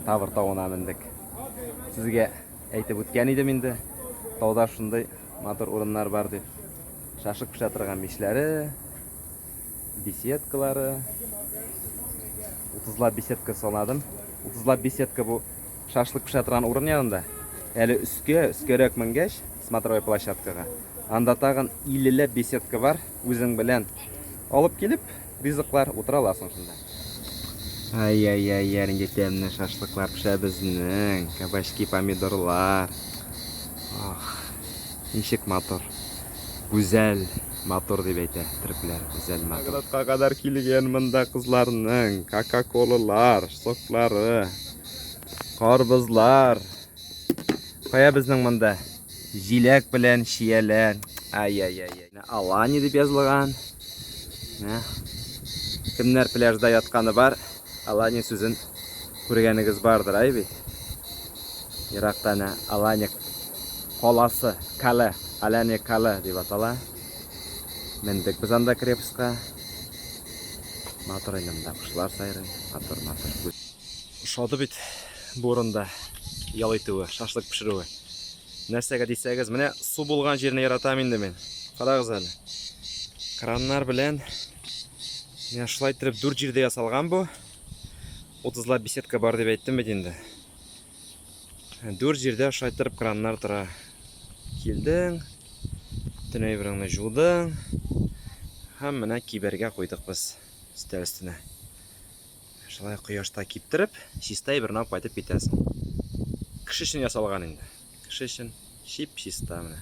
Тавр тавына мендек. Сезгә әйтеп үткән идем инде. Тауда шундый матур урыннар бар дип. Шашык пешә торган мишләре, беседкалары. 30 беседка санадым. 30 беседка бу шашлык пешә торган урын янында. Әле өскә, өскәрәк менгәч, смотровой площадкага. Анда тагын 50 беседка бар. Үзең белән алып килеп, ризыклар утыра аласың шунда. Ай-яй-яй, яринде тәмле шашлыклар пешә безнең. Кабачки, помидорлар. Ах, ничек матур. Гүзәл, матур дип әйтә төрекләр. Гүзәл, матур. Наградка кадәр килгән монда кызларның кока-колалар, соклары, карбызлар. Кая безнең монда? Җиләк белән чияләр. Ай-яй-яй. Менә Алани дип язылган. Менә. Кемнәр пляжда ятканы бар, Алани сүзен күргәнегез бардыр, ай бит. Еракта әнә Алани каласы, кале, Алани кале дип атала. Мендек без анда крепостька. Матур инде монда кошлар сайрый, матур, матур. Ошады бит бу урында ял итүе, шашлык пешерүе. Нәрсәгә дисәгез, менә су булган җирне яратам инде мин. Карагыз әле. Краннар белән менә шулай итеп дүрт җирдә ясалган бу. 30 лап беседка бар дип әйттем бит инде. Дүрт җирдә шулай итеп краннар тора. Килдең, төне әйбереңне жудың. Һәм менә кибәргә куйдык без өстәл өстенә. Шулай кояшта киптереп, чистай бернап кайтып китәсең. Кеше өчен ясалган инде. Кеше өчен чип-чиста менә.